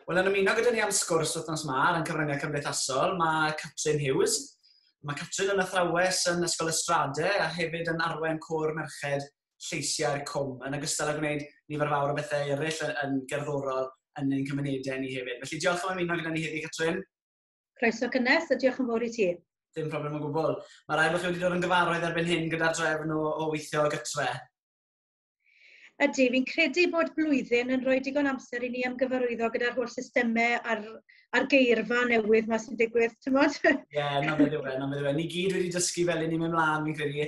Wel, yn ymuno gyda ni am sgwrs wythnos ma ar yn cyfryngau cymdeithasol, mae Catrin Hughes. Mae Catrin yn athrawes yn Ysgol Ystrade a hefyd yn arwen cwr merched lleisiau'r cwm, yn ogystal â gwneud nifer fawr o bethau eraill yn, yn gerddorol yn ein cymunedau ni hefyd. Felly diolch am ymuno gyda ni heddi, Catrin. Croeso cynnes a diolch yn fawr i ti. Dim problem o gwbl. Mae rhaid bod chi wedi dod yn gyfarwydd erbyn hyn gyda'r drefn o, o weithio gytre. Ydy, fi'n credu bod blwyddyn yn rhoi digon amser i ni ymgyfarwyddo gyda'r holl systemau a'r a'r geirfa newydd ma sy'n digwydd, ti'n modd? Ie, na beth yw e, na beth yw e. Ni gyd wedi dysgu fel i ni mynd mlaen, fi'n credu.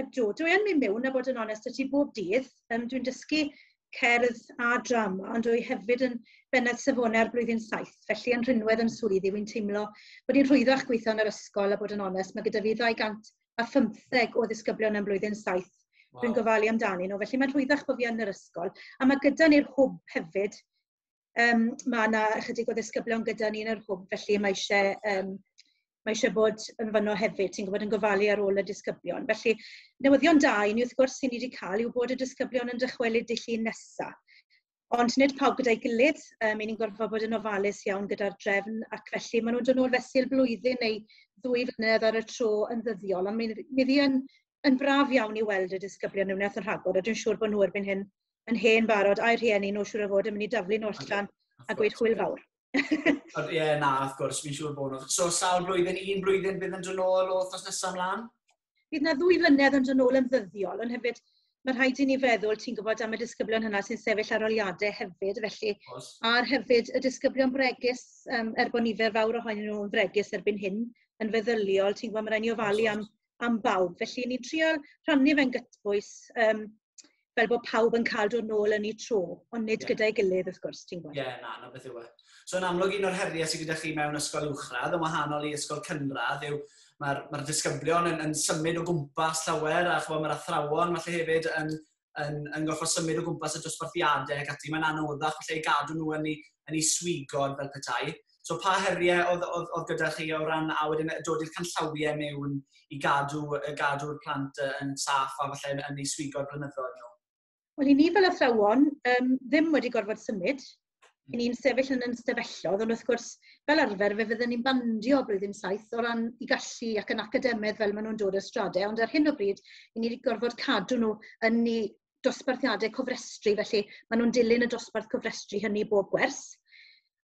Ydw, dwi yn mynd mewn a bod yn onest y ti bob dydd. Um, dwi'n dysgu cerdd a drama, ond dwi hefyd yn bennad safonau ar blwyddyn saith, felly yn rhinwedd yn swyddi, wy'n teimlo bod i'n rhwyddach gweithio yn yr ysgol a bod yn onest, mae gyda fi 215 o ddisgyblion yn blwyddyn saith wow. dwi'n gofalu amdani nhw, felly mae'n rhwyddach bod fi yn yr ysgol. A mae gyda ni'r hwb hefyd, um, mae yna ychydig o ddisgyblion gyda ni yn yr hwb, felly mae eisiau, um, mae eisiau bod yn fyno hefyd, ti'n gwybod, yn gofalu ar ôl y disgyblion. Felly, newyddion da i ni wrth gwrs sy'n ni wedi cael yw bod y disgyblion yn dychwelyd dydd llun nesaf. Ond nid pawb gyda'i gilydd, um, ni'n gorfod bod yn ofalus iawn gyda'r drefn, ac felly maen nhw'n dod nôl fesul blwyddyn neu ddwy flynedd ar y tro yn ddyddiol, ond mi, mi yn, yn braf iawn i weld y disgyblion yn wnaeth yn rhagor, a dwi'n siŵr bod nhw erbyn hyn yn hen barod, a'i rhieni nhw siŵr o fod yn mynd i daflu nhw allan a gweud hwyl fawr. Ie, yeah, na, wrth gwrs, fi'n siŵr bod nhw. So, sawl blwyddyn, un blwyddyn bydd yn dod nôl o thos nesaf mlaen? Bydd na ddwy flynedd yn dod nôl yn ddyddiol, ond hefyd mae rhaid i ni feddwl, ti'n gwybod, am y disgyblion hynna sy'n sefyll ar oliadau hefyd, felly, a'r hefyd y disgyblion bregus, um, er bod nifer fawr ohonyn nhw'n fregus erbyn hyn, yn feddyliol, ti'n gwybod, mae rhaid ni ofalu am am bawb. Felly ni'n trio rhannu fe'n gytbwys um, fel bod pawb yn cael dod nôl yn ei tro, ond nid yeah. gyda'i gilydd wrth gwrs, ti'n gwybod. Ie, yeah, na, na beth yw e. So yn amlwg un o'r heriau sydd gyda chi mewn ysgol uwchradd, yn wahanol i ysgol cynradd, yw mae'r mae disgyblion yn, yn symud o gwmpas llawer, a chwa mae'r athrawon falle hefyd yn yn, yn gorfod symud o gwmpas y dosbarthiadau ac ati. Mae'n anoddach falle i gadw nhw yn ei, yn ei swigod fel petai. So pa heriau oedd, oedd, oedd gyda chi o ran a wedyn dod i'r canllawiau mewn i gadw, gadw'r plant yn saff a falle yn, yn ei swigod blynyddoedd nhw? Wel, i ni fel athrawon, um, ddim wedi gorfod symud, i ni'n sefyll yn yn stafellodd, ond wrth gwrs, fel arfer, fe fydden ni'n bandio blwyddyn saith o ran i gallu ac yn academedd fel maen nhw'n dod y stradau, ond ar hyn o bryd, i ni wedi gorfod cadw nhw yn ni dosbarthiadau cofrestru, felly maen nhw'n dilyn y dosbarth cofrestru hynny bob gwers.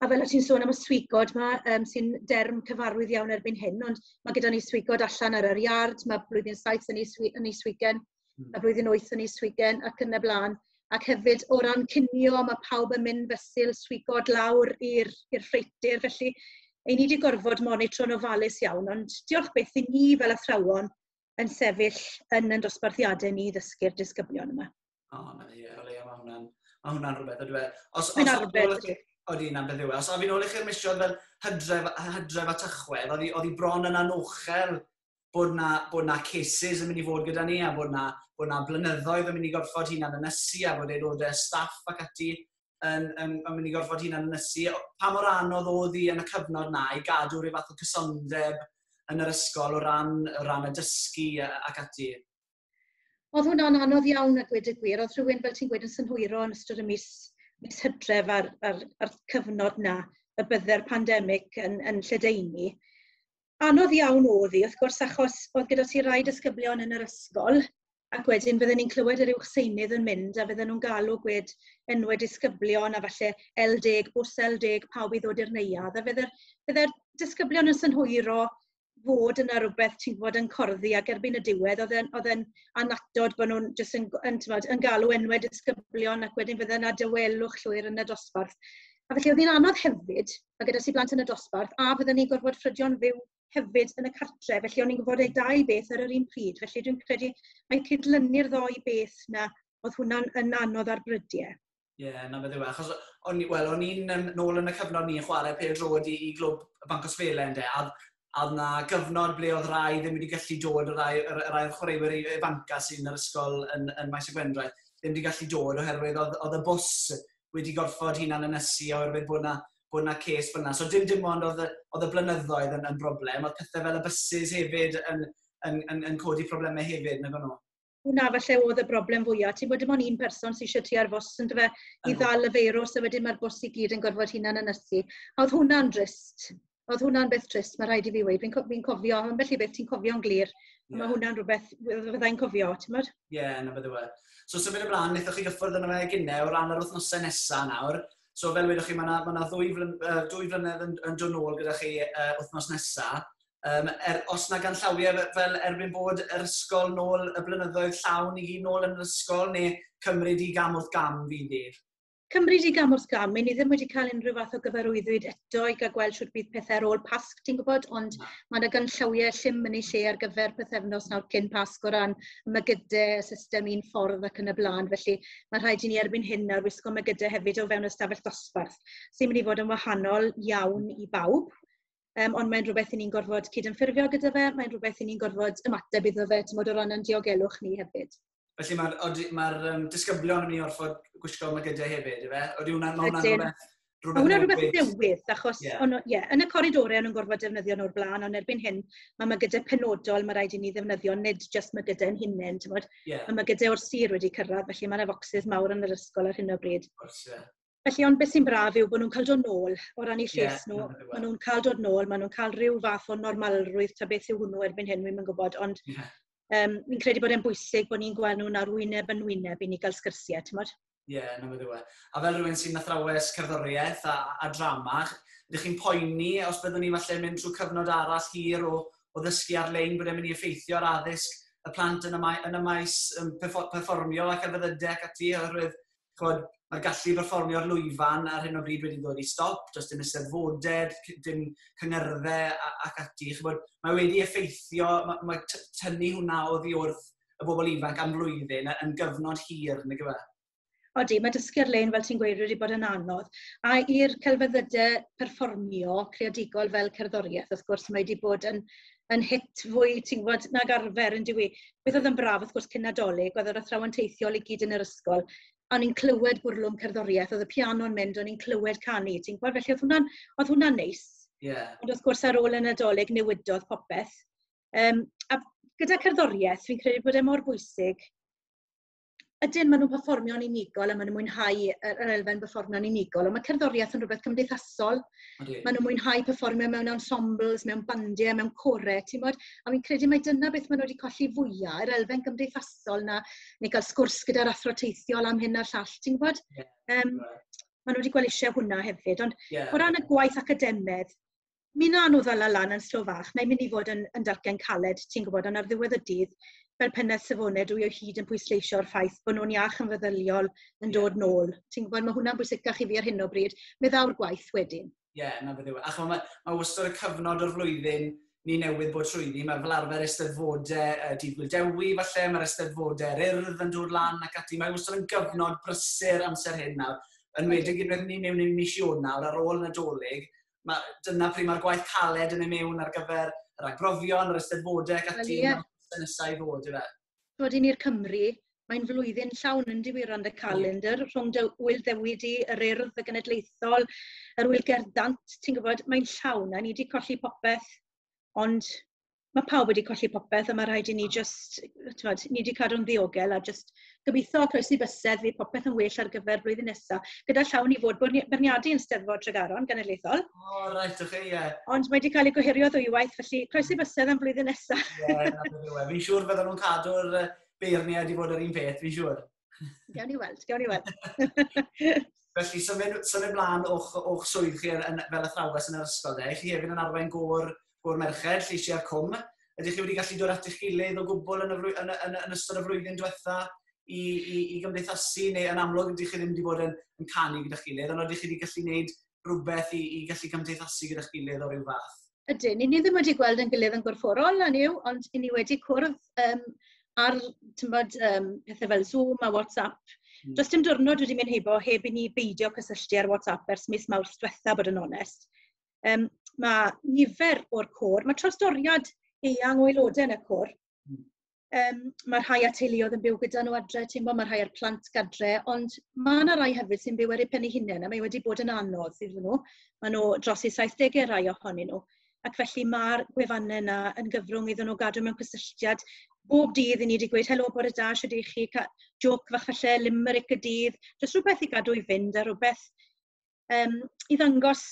A fel o ti'n sôn am y swigod yma, um, sy'n derm cyfarwydd iawn erbyn hyn, ond mae gyda ni swigod allan ar yr iard, mae blwyddyn saith yn ei, swi, yn ei swigen, Hmm. a flwyddyn wyth yn ei swigen ac yn y blaen. Ac hefyd o ran cinio, mae pawb yn mynd fesul swigod lawr i'r ffreitir, felly ei ni wedi gorfod monitro'n ofalus iawn, ond diolch beth i ni fel athrawon yn sefyll yn yn dosbarthiadau ni ddysgu'r disgyblion yma. O, oh, na, ie, o leia, mae hwnna'n ma hwnna rhywbeth, oedwe. Os, os, rhywbeth. Oeddi, na'n beth yw e. Os ofyn ôl i chi'r misiodd fel hydref, hydref a tychwedd, oedd hi bron yn anochel bod na, bod na cases yn mynd i fod gyda ni a bod na, bod na blynyddoedd yn mynd i gorfod hunan ynysu a bod aelodau staff ac ati yn, yn, yn mynd i gorfod hunan ynysu. Pa mor anodd oedd hi yn y cyfnod na i gadw rhyw fath o cysondeb yn yr ysgol o ran, o ran y dysgu ac ati? Oedd hwnna'n anodd iawn a gwed y gwir. Oedd rhywun, fel ti'n gwed, yn synhwyro yn ystod y mis, mis hydref a'r, a'r, a'r cyfnod na y bydde'r pandemig yn, yn lledaenu. Anodd iawn oedd hi, wrth gwrs, achos oedd gyda ti rai disgyblion yn yr ysgol, ac wedyn fydden ni'n clywed yr uwchseunydd yn mynd a fydden nhw'n galw gwed enwau disgyblion a falle L10, bws L10, pawb i ddod i'r neuad. A fydde'r fydde disgyblion yn synhwyro fod yna rhywbeth ti'n gwybod yn corddi ac erbyn y diwedd oedd e'n, oedd e'n anatod bod nhw'n jyst yn, yn, tymod, yn galw enwau disgyblion ac wedyn fydde yna dywelwch llwyr yn y dosbarth. A felly oedd hi'n anodd hefyd a gyda si blant yn y dosbarth, a fydden ni'n gorfod ffrydio'n fyw hefyd yn y cartre, felly o'n i'n gwybod eu dau beth ar yr un pryd, felly dwi'n credu mae cydlynu'r ddoi beth na, oedd hwnna'n yn anodd ar brydiau. Ie, yeah, na beth yw, e. achos o'n, well, o'n i'n um, nôl yn y cyfnod ni'n chwarae pêl drod i, i glwb y Banc o Sfele ynddo, a, a oedd na gyfnod ble oedd rai ddim wedi gallu dod, y rai, y rai oedd chwaraewyr i Banca sy'n yr ysgol yn, yn Maes y Gwendraeth, ddim wedi gallu dod oherwydd oedd, oedd y bws wedi gorfod hunan ynysu oherwydd bod yna bod yna ces fel yna. So dim dim ond oedd y, oedd y blynyddoedd yn, yn broblem, oedd pethau fel y buses hefyd yn, yn, yn, yn codi problemau hefyd, nag o'n nhw? Hwna falle oedd y broblem fwyaf. Ti'n bod dim ond un person sy'n eisiau ar fos yn dyfa i ddal y feirws a wedyn mae'r bws i gyd yn gorfod hunan ynysu. A oedd hwnna'n drist? Oedd hwnna'n beth trist, mae rhaid i fi weud. Fi'n co fi cofio, yn felly beth ti'n cofio'n glir. Yeah. Mae hwnna'n rhywbeth fyddai'n cofio, ti'n modd? Ie, yeah, na beth yw e. So, symud ymlaen, wnaethoch chi gyffwrdd yna fe gynnau o ran yr wythnosau nesaf nawr. So, fel wedoch chi, mae yna, ma yna ddwy, flyn, uh, dwy flynedd yn, yn dod nôl gyda chi uh, wythnos nesaf. Um, er, os na gan llawiau fel erbyn bod yr ysgol nôl y blynyddoedd llawn i gyd nôl yn yr ysgol neu cymryd i gam wrth gam fi'n dweud? Cymru di gam wrth gam, mae ni ddim wedi cael unrhyw fath o gyfarwyddwyd eto i gael gweld siwt bydd pethau ar ôl Pasg, ti'n gwybod, ond mae yna gynllawiau llym yn ei lle ar gyfer pethefnos nawr cyn Pasg o ran mygydau, y system un ffordd ac yn y blaen, felly mae rhaid i ni erbyn hyn nawr wisgo mygydau hefyd o fewn ystafell ddosbarth, sy'n mynd i fod yn wahanol iawn i bawb, um, ond mae'n rhywbeth i ni'n gorfod cydymffurfio gyda fe, mae'n rhywbeth i ni'n gorfod ymateb iddo fe, ti'n bod o ran yn diogelwch ni hefyd. Felly mae'r ma um, disgyblion yn mynd i orfod gwisgo magydau hefyd, efe? Oeddi hwnna'n ma hwnna rhywbeth... Mae hwnna rhywbeth newydd, achos yeah. on, yeah, yn y coridorau o'n nhw'n gorfod defnyddio nhw'r blaen, ond erbyn hyn, mae ma gyda penodol, mae rhaid i ni ddefnyddio nid jyst mae gyda yn hunain, ti'n bod? Yeah. Mae ma gyda o'r sir wedi cyrraedd, felly mae yna focsys mawr yn yr ysgol ar hyn o bryd. Course, yeah. Felly, ond beth sy'n braf yw bod nhw'n cael dod nôl o ran eu lles yeah, nhw. Maen nhw'n cael dod nôl, maen nhw'n cael rhyw fath o normalrwydd, ta beth yw hwnnw erbyn hyn, wy'n gwybod, ond yeah. um, fi'n credu bod e'n bwysig bod ni'n gweld nhw'n arwyneb yn wyneb i ni gael sgyrsiau, ti'n modd? Ie, yeah, na wedi we. A fel rhywun sy'n athrawes cerddoriaeth a, a drama, ydych chi'n poeni os byddwn ni falle mynd trwy cyfnod arall hir o, o ddysgu ar-lein bod e'n mynd i effeithio ar addysg y plant yn y, mae, yn y maes um, performio ac ar fyddyde ac ati, oherwydd chod, mae'r gallu i berfformio ar lwyfan ar hyn o bryd wedi dod i stop, does dim eisteddfodau, dim cyngyrddau ac ati. Chod, mae wedi effeithio, mae, mae tynnu hwnna o ddiwrth y bobl ifanc am flwyddyn yn gyfnod hir, neu gyfa? Odi, mae dysgu ar-lein, fel ti'n gweud, wedi bod yn anodd. A i'r celfyddydau perfformio creadigol fel cerddoriaeth, wrth gwrs, mae wedi bod yn yn hit fwy, ti'n gwybod, nag arfer yn dyw i. Beth oedd yn braf, wrth gwrs, cyn Nadolig, oedd yr athrawon teithiol i gyd yn yr ysgol, a ni'n clywed bwrlwm cerddoriaeth, oedd y piano'n mynd, o'n ni'n clywed canu, ti'n gwybod, felly oedd hwnna'n hwnna, hwnna neis. Yeah. Ond wrth gwrs, ar ôl y Nadolig, newidodd popeth. Um, a gyda cerddoriaeth, fi'n credu bod e mor bwysig ydyn, maen nhw'n performio'n unigol a maen nhw'n mwynhau yr elfen performio'n unigol, ond mae cerddoriaeth yn rhywbeth cymdeithasol. Okay. Maen nhw'n mwynhau performio mewn ensembles, mewn bandiau, mewn corau, ti'n bod? A fi'n credu mai dyna beth maen nhw wedi colli fwyaf, yr elfen gymdeithasol na, neu cael sgwrs gyda'r athro teithiol am hyn a'r llall, ti'n bod? Yeah. Um, maen nhw wedi gweld eisiau hwnna hefyd, ond yeah. o ran y gwaith academedd, Mi wnawn nhw ddala lan yn slo fach. Mae'n mynd i fod yn, yn dalcen caled, ti'n gwybod, ond ar ddiwedd y dydd, fel pennaeth safonau, dwi o hyd yn pwysleisio'r ffaith bod nhw'n iach yn feddyliol yn dod nôl. Ti'n gwybod, mae hwnna'n bwysicach i fi ar hyn o bryd. Meddaw'r gwaith wedyn. Ie, yeah, na beth yw. E. A chwa, mae, mae wastad y cyfnod o'r flwyddyn ni newydd bod trwyddi. Mae fel arfer eisteddfodau uh, dydd Gwildewi, falle, mae'r eisteddfodau'r urdd yn dod lan ac ati. Mae wastad yn gyfnod brysur amser hyn nawr. Yn wedig i'r beth ni mewn i'r mis Ionawr ar ôl Nadolig, ma, dyna pryd mae'r gwaith caled yn ei mewn ar gyfer yr agbrofion, yr ysteddfodau ac ati yn y nesau i ddod, ife? Dod i ni'r Cymru, mae'n flwyddyn llawn yn diwyron y calendr, rhwng dy wyl ddewyd i, yr urdd, y genedlaethol, yr wyl gerddant, ti'n gwybod, mae'n llawn, a ni wedi colli popeth, ond mae pawb wedi colli popeth a mae rhaid i ni jyst, tywed, ni wedi cadw'n ddiogel a jyst gobeithio croesi bysedd fydd popeth yn well ar gyfer blwyddyn nesaf. Gyda llawn i fod byrniadu yn Steddfod Tregaron genedlaethol. O, oh, reit, ych chi, ie. Ond mae wedi cael ei gohirio ddwywaith, felly croesi bysedd am flwyddyn nesaf. Ie, yeah, fi'n siŵr bydden nhw'n cadw'r beirniad i fod yr un peth, fi'n siŵr. Gawn ni weld, gawn ni weld. Felly, symud, symud mlaen o'ch, o'ch swydd chi yn, yn, fel athrawes yn yr ysgol, de. Chi hefyd yn arwain gôr, gôr merched, lleisiau'r cwm. Ydych chi wedi gallu dod at eich gilydd o gwbl yn, y frwy, yn, yn, yn ystod y flwyddyn diwetha i, i, i gymdeithasu, neu yn amlwg ydych chi ddim wedi bod yn, yn canu gyda chilydd, ond ydych chi wedi gallu gwneud rhywbeth i, i gallu cymdeithasu gyda chi ledd o rhyw fath? Ydyn, ni ddim wedi gweld yn gilydd yn gorfforol, a niw, ond ni wedi cwrdd um, ar tymod, um, pethau fel Zoom a WhatsApp. Mm. Does dim diwrnod wedi mynd heibo heb i ni beidio cysylltu ar WhatsApp ers mis mawr diwetha, bod yn onest. Um, mae nifer o'r côr, mae trosdoriad eang o aelodau yn y côr, Yym ma' rhai â teuluoedd yn byw gyda nhw adre, ti'n gwbod, ma' rhai â'r plant gadre, ond ma' 'na rai hefyd sy'n byw ar eu pen eu hunain, a mae wedi bod yn anodd iddyn nhw. Maen nhw dros eu saithdegau rai ohonyn nhw, ac felly ma'r gwefannau yna yn gyfrwng iddyn nhw gadw mewn cysylltiad bob dydd i ni 'di gweud helo bore da, shwd 'ych chi, ca- jôc fach falle, limeric y dydd, jyst rhywbeth i gadw i fynd a rhywbeth yym, i ddangos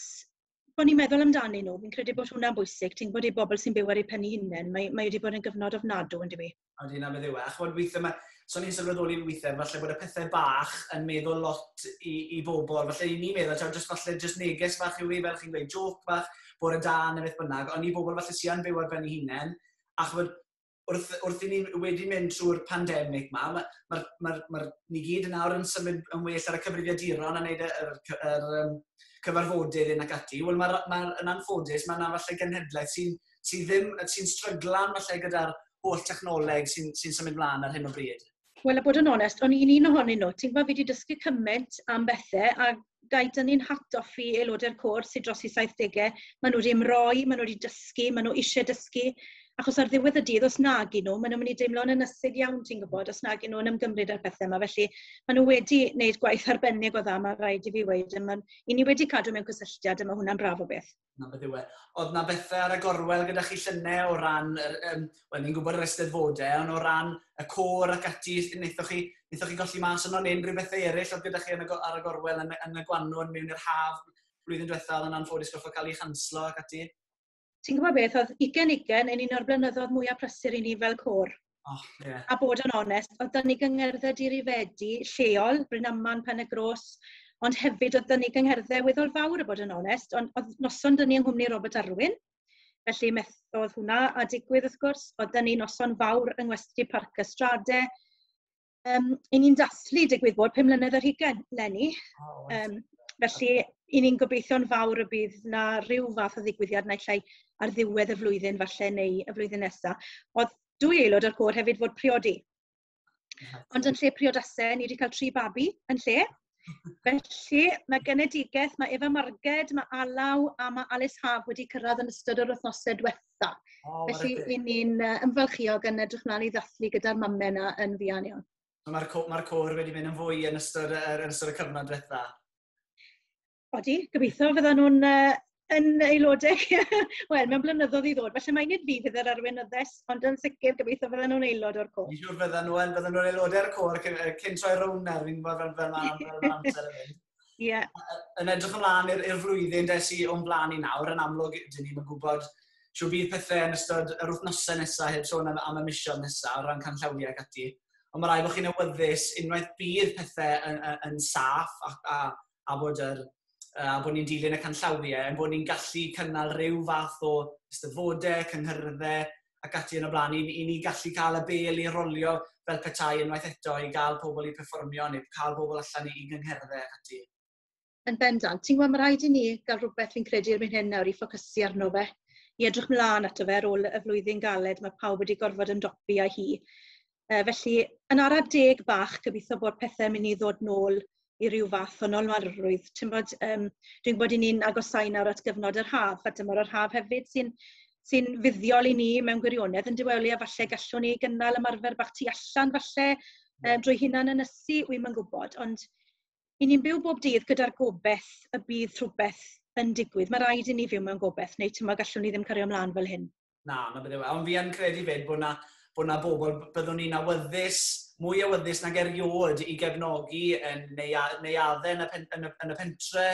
bod ni'n meddwl amdanyn nhw. Fi'n credu bod hwnna'n bwysig. Ti'n gwybod, i bobl sy'n byw ar eu pen hunain, mae, mae wedi bod yn gyfnod ofnadw, yn dywi. Ond hynna beth yw e. A chymod, weithiau mae... So ni'n sylweddoli weithiau, falle bod y pethau bach yn meddwl lot i, i bobl. Falle i ni meddwl, taw, just, falle just neges fach yw i, e, fel chi'n gweud, joc bach, bod y da neu beth bynnag. Ond i bobl falle sy'n byw ar ben ei hunain, a chymod, wrth, wrth i ni wedi mynd trwy'r pandemig ma, mae, ma, ma, ma, ni gyd yn awr yn symud yn well ar y cyfrifiaduron a wneud y, y, y, y, y cyfarfodydd yn ac ati. Wel, mae'r ma, yn anffodus, mae yna falle genhedlaeth sy'n sy ddim, sy'n stryglan falle gyda'r holl technoleg sy'n sy symud mlaen ar hyn o bryd. Wel, a bod yn onest, o'n i'n un ohonyn nhw. Ti'n gwybod, fi wedi dysgu cymaint am bethau, a dau dynnu'n hatgoffi aelodau'r côr sydd dros i 70au, maen nhw wedi ymroi, maen nhw wedi dysgu, maen nhw eisiau dysgu, achos ar ddiwedd y dydd, os nag i nhw, maen nhw'n mynd i deimlo'n ynysig iawn, ti'n gwybod, os nag i nhw'n ymgymryd â'r pethau yma. Felly, maen nhw wedi gwneud gwaith arbennig o dda, mae rhaid i fi weid, a maen, i ni wedi cadw mewn cysylltiad, a mae hwnna'n braf o beth. 'na beth yw e. Oedd 'na bethe ar y gorwel gyda chi llynedd o ran yr yym wel ni'n gwybod yr Eisteddfodau ond o ran y côr ac ati wnaethoch chi wnaethoch chi golli mas yno neu unrhyw bethe eraill oedd gyda chi yn y go- ar y gorwel yn y yn y gwanwyn mewn i'r haf blwyddyn diwethaf oedd yn anffodus gorfod cael ei chanslo ac ati? Ti'n gwybod beth, oedd ugen ugen yn un o'r blynyddoedd mwyaf prysur i ni fel côr. Oh, yeah. A bod yn onest, oedd dyn ni gyngerdde dirifedi lleol, Bryn Aman, Pen y Gros, ond hefyd oedd dyn ni gyngerdde weddol fawr a bod yn onest, ond oedd noson dyn ni yng Nghwmni Robert Arwyn, felly methodd hwnna a digwydd wrth gwrs, oedd dyn ni noson fawr yng Ngwesti Parc Ystrade, Yym, 'y ni'n dathlu, digwydd bod, pum mlynedd ar hugain 'leni. Yym, felly, 'y ni'n gobeitho'n fawr y bydd 'na ryw fath o ddigwyddiad naill ai ar ddiwedd y flwyddyn falle neu y flwyddyn nesa. O'dd dwy aelod o'r côr hefyd fod priodi. Ond yn lle priodas-e, ni 'di ca'l tri babi yn lle. Felly, mae genedigaeth, mae Eva Marged, mae Alaw a mae Alice Haf wedi cyrraedd yn ystod yr wythnosau diwetha. Oh, Felly, i ni'n uh, ymfalchiog yn edrych mlaen i ddathlu gyda'r mamau yna yn fuan iawn. So mae'r co ma cwr wedi mynd yn fwy yn ystod, er, yn ystod y cyfnod diwetha? Odi, gobeithio fyddan nhw'n uh, yn aelodau, wel, mewn blynyddoedd i ddod. Felly mae'n nid fi fydd yr arweinyddes, ond yn sicr gobeithio fydden nhw'n aelod o'r côr. Dwi'n siŵr fydden nhw yn, fydden nhw'n aelodau'r côr cyn, cyn troi rownd nawr, fi'n gwybod fel fel fel amser yn mynd. Ie. Yn edrych ymlaen i'r flwyddyn des i o'n blaen i nawr, yn amlwg, dyn ni'n gwybod siw bydd pethau yn ystod yr wythnosau nesaf, heb sôn am, am y misiodd nesaf, o ran canllawiau ac ati. Ond mae rai bod chi'n awyddus unwaith bydd pethau yn, yn, yn saff ac, a, a a bod yr yy a bod ni'n dilyn y canllawiau, ein bod ni'n gallu cynnal rhyw fath o eisteddfodau, cynghyrddau ac ati yn y blaen i i ni gallu cael y bêl i rolio fel petai unwaith eto i gael pobl i perfformio neu cael pobl allan i i gyngherddau ac ati. Yn bendant. Ti'n gwybod, mae rhaid i ni gael rhywbeth fi'n credu erbyn hyn nawr i ffocysu arno fe, i edrych mlaen ato fe ar ôl y flwyddyn galed mae pawb wedi gorfod ymdopi â hi. Uh, felly, yn ara deg bach, gobeithio bod pethau'n mynd i ddod nôl i ryw fath o nolwarrwydd. Ti'n bod, um, dwi'n gwybod i ni'n agosau nawr at gyfnod yr haf, a dyma'r yr haf hefyd sy'n sy fuddiol i ni mewn gwirionedd yn diwelu, a falle gallwn ni gynnal ymarfer bach tu allan falle um, drwy hunan yn ysu, wy'n ma'n gwybod, ond i ni'n byw bob dydd gyda'r gobeith y bydd rhywbeth yn digwydd. Mae rhaid i ni fyw mewn gobeith, neu ti'n gallwn ni ddim cario ymlaen fel hyn. Na, na bydde we. Ond fi yn credu fyd bod na, bod na bobl, byddwn ni'n awyddus, mwy awyddus nag erioed i gefnogi yn neuad, neuadau yn y, pen, yn, y, yn y pentre,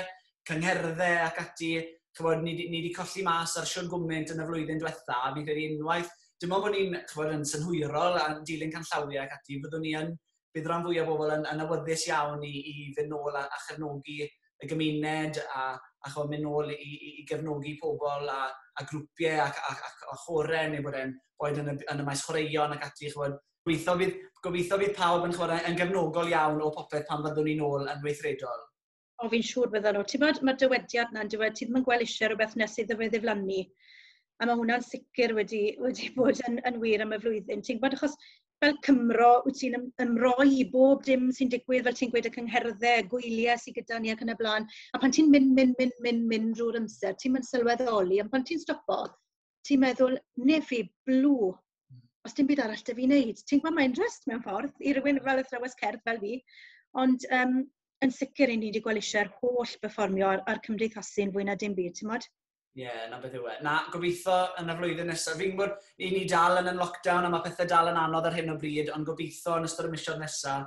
cyngherddau ac ati. Chybod, ni, ni wedi colli mas ar siwr gwmynt yn y flwyddyn diwetha, a fi'n credu unwaith, dim ond bod ni'n chybod, yn synhwyrol a dilyn canllawiau ac ati, fyddwn ni yn bydd rhan fwyaf o bobl yn, yn awyddus iawn i, i fynd nôl a, a chefnogi y gymuned a, a chod mynd nôl i, i, i gefnogi pobl a, a grwpiau ac, ac, ac, ac chore neu bod e'n boed yn y, yn y maes chwaraeon ac ati. Chod, gobeithio, bydd, gobeithio bydd pawb yn, chod, yn gefnogol iawn o popeth pan fyddwn ni'n ôl yn weithredol. O, fi'n siŵr bydden nhw. Ti'n bod, mae'r dywediad na'n dywed, ti ddim yn gweld eisiau rhywbeth nes iddo fe ddiflannu. A mae hwnna'n sicr wedi, wedi bod yn, yn wir am y flwyddyn. Ti'n gwybod, achos fel Cymro, wyt ti'n ymroi i bob dim sy'n digwydd, fel ti'n gweud y cyngherddau, gwyliau sy'n gyda ni ac yn y blaen. A pan ti'n mynd, mynd, mynd, mynd, mynd drwy'r amser, ti'n mynd sylweddoli, ond pan ti'n stopo, ti'n meddwl, nefi, blw, os dim byd arall da fi wneud. Ti'n gwybod, mae'n rhest mewn ffordd i rywun fel athrawes cerdd fel fi, ond um, yn sicr i ni wedi gweld eisiau'r holl berfformio a'r, ar cymdeithasu'n fwy na dim byd, ti'n modd? Ie, yeah, na beth yw e. Na, gobeithio yn y flwyddyn nesaf. Fi'n gwybod, i ni dal yn yn lockdown a mae pethau dal yn anodd ar hyn o bryd, ond gobeithio yn ystod y misiodd nesaf,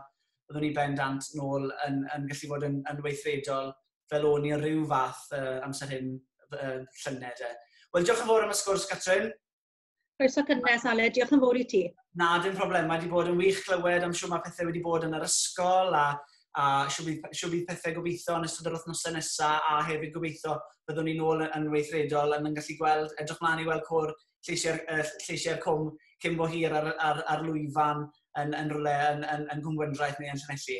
byddwn ni ben dant nôl yn, yn gallu bod yn, yn weithredol fel o'n i o ryw fath uh, amser hyn uh, llynedd. de. Wel, diolch yn fawr am y sgwrs, Catrin. Croeso cynnes, Ale. Diolch yn fawr i ti. Na, dim problem. Mae wedi bod yn wych clywed am siw mae pethau wedi bod yn yr ysgol a, a siw bydd, siw bydd pethau gobeithio yn ystod yr wythnosau nesaf a hefyd gobeithio byddwn ni'n ôl yn weithredol yn yn gallu gweld, edrych mlaen i weld cwr lleisiau'r uh, lleisiau cwm cyn bo hir ar, ar, ar lwyfan yn, yn rhywle yn, yn, yn Gwngwyndraeth neu yn Llanelli.